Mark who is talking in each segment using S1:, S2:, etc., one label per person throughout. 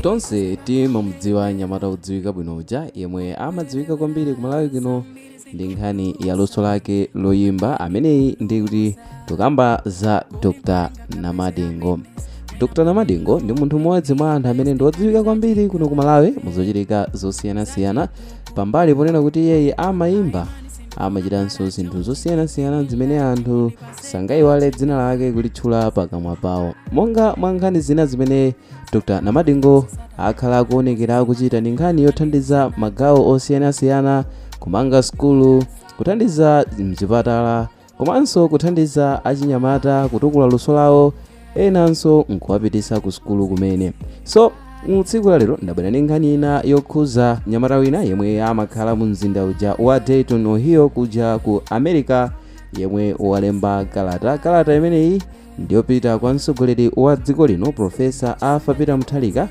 S1: Tonse timamudziwa nyamata wodziwika bwino uja yemwe amadziwika kwambiri kumalawi kuno ndi nkhani ya luso lake loyimba ameneyi ndi kuti tukamba za dr namadingo dr namadingo ndi munthu mmodzi mwa anthu amene ndi odziwika kwambiri kuno kumalawi muzochitika zosiyanasiyana pambali ponena kuti iyeyi amayimba amachitanso zinthu zosiyanasiyana zimene anthu sangayiwale dzina lake kulitchula pakamwa pawo monga mwa nkhani zina zimene dr namadingo akhala akuonekera kuchita ndi nkhani yothandiza magawo osiyanasiyana kumanga sukulu kuthandiza mchipatala komanso kuthandiza achinyamata kutukula luso lawo enanso nkuwapitisa ku sukulu kumene so tsiku la lero ndabwera ndi nkhani ina yokhuza nyamata wina yemwe amakhala mu mzinda uja wa dayton ohio kuja ku america yemwe walemba kalata kalata imeneyi ndiyopita kwa mtsogoleri wa dziko lino profesa arthur peter mutharika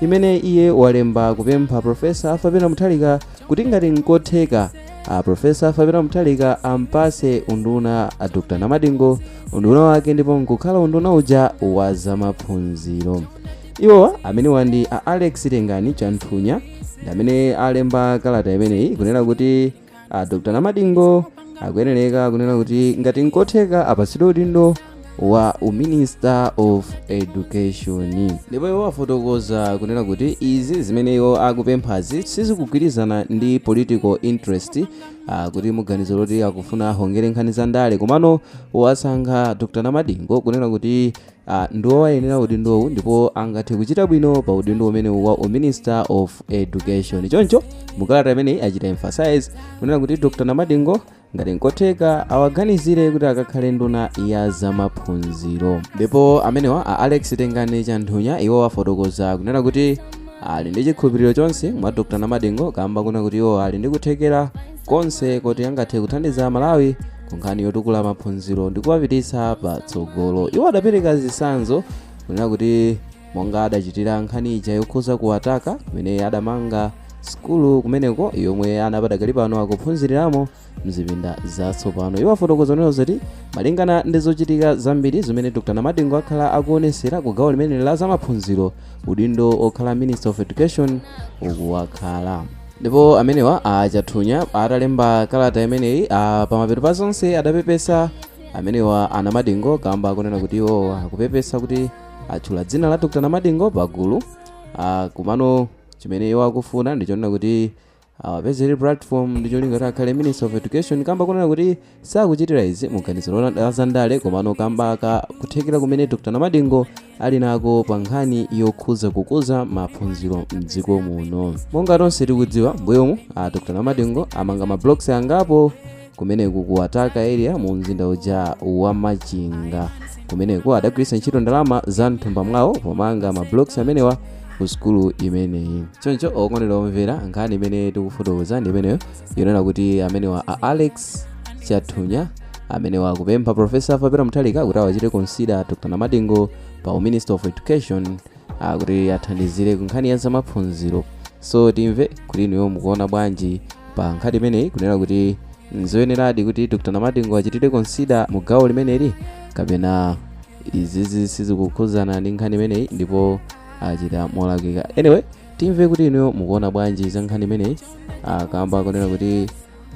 S1: imene iye walemba kupempha profesa arthur peter mutharika kuti ngati nkotheka a profesa arthur peter mutharika ampase unduna a dr namadingo unduna wake ndipo nkukhala unduna uja wa zamaphunziro iwowa amenewa ndi a alex tengani chanthunya ndi amene alemba kalata imeneyi kunena kuti a dr namadingo akuyenereka kunena kuti ngati nkotheka apatsidwe udindo wa uminister of education ndipo iwo afotokoza kunena kuti izi zimene iwo akupemphazi sizikugwirizana ndi political interest uh, kuti muganizo loti akufuna ahongere nkhani za ndale komano wasankha dr namadingo kunena kuti ndiwo wayenera udindowu ndipo angathe kuchita bwino pa udindo umenewu wa uminister of education choncho mukalata imeneyi achita emphasize kunena kuti dr namadingo ngati nkotheka awaganizire kuti akakhale nduna ya zamaphunziro ndipo amenewa a alex tengani chanthunya iwo afotokoza kunena kuti ali ndi chikhulupiriro chonse mwa dr namadingo kamba kunena kuti iwo ali ndi kuthekera konse kuti angathe kuthandiza malawi ku nkhani yotukula maphunziro ndi kuwapititsa patsogolo iwo adapereka zitsanzo kunena kuti monga adachitira nkhani ija yokhuza kuwataka kumene adamanga sukulu kumeneko yomwe ana padakali pano akuphunziriramo mzipinda zatsopano iwo afotokoza kunena zoti malingana ndi zochitika zambiri zimene dr namadingo akhala akuonesera ku gawo limene la zamaphunziro udindo okhala minister of education ukuwakhala Ndipo amenewa a Chanthunya atalemba kalata imeneyi pamapeto pa zonse adapepesa amenewa a Namadingo kamba kunena kuti iwo akupepesa kuti atchula dzina la Dr. Namadingo pagulu komano chimene iwo akufuna ndichonena kuti awapezere platform ndicholinga kuti akhale Minister of Education kamba kunena kuti Sakuchitira izi mu ganizo la zandale komano kamba ka kuthekera kumene Dr. Namadingo ali nako pa nkhani yokhuza kukuza maphunziro mdziko muno. Monga tonse tikudziwa, mbuyomu a Dr. Namadingo amanga ma blocks angapo kumeneku ku Wataka area mu mzinda uja wa Machinga. Kumeneko adagwiritsa ntchito ndalama za mthumba mwawo pomanga ma blocks amenewa ku sukulu imeneyi. Choncho okondedwa omvera, nkhani imene tikufotokoza ndi imeneyo yonena kuti amenewa a alex chanthunya amenewa akupempha profesa arthur peter mutharika kuti awachite consider dr namadingo pa minister of education ah, kuti athandizire ku nkhani ya zamaphunziro so timve kuti inuyo mukuona bwanji pa nkhani imeneyi kunena kuti nzoyeneradi kuti dr namadingo achitidwe consider mu gawo limeneli kapena izizi sizikukhudzana ndi nkhani imeneyi ndipo achita molakwika anyway timve kuti inuyo mukuona bwanji za nkhani imeneyi kamba kunena kuti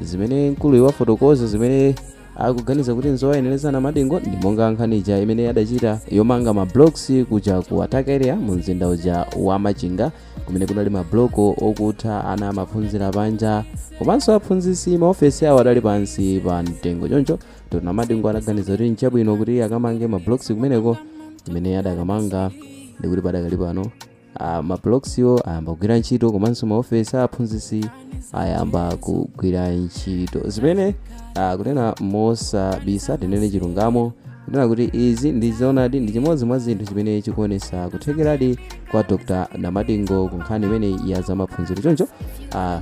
S1: zimene mkuluyu wafotokoza zimene akuganiza kuti nzowayenereza anamadingo ndi monga nkhani ija imene adachita yomanga mablocks kuja ku wataka area mu mzinda uja wa machinga kumene kunali mabloko okutha ana amaphunzira panja komanso aphunzitsi maofesi awo adali pansi pa mtengo choncho dr namadingo adaganiza kuti nchabwino kuti akamange mablocks kumeneko imene adakamanga ndikuti padakali pano Ah, ma blockswo ayamba kugwira ntchito komanso maofesi a aphunzitsi ayamba kugwira ntchito zimene ah, kunena mosabisa tinene chilungamo kunena kuti izi ndi zoonadi ndi chimodzi mwa zinthu chimene chikuonesa kuthekeradi kwa dr namadingo ku nkhani imeneyi ya za maphunziro choncho ah,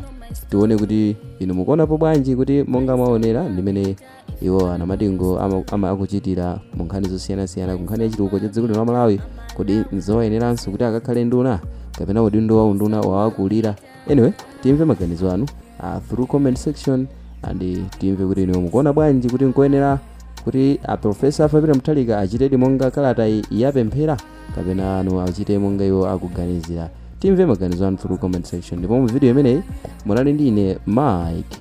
S1: tione kuti inu mukuonapo bwanji kuti monga mwaonera ndimene iwo anamadingo ama, ama akuchitira mu nkhani zosiyanasiyana ku nkhani ya chitukuko cha dziko lino la malawi kodi nzowayeneranso kuti akakhale nduna kapena udindo wa unduna wawakulira anyway timve maganizo anu uh, through comment section and eh, timve kuti inuyo mukuona bwanji kuti nkoyenera kuti a profesa arthur peter mutharika achitedi monga kalata iyi yapemphera kapena asachite monga iwo akuganizira timve maganizo anu through comment section ndipo mu video imeneyi munali ndi ine mike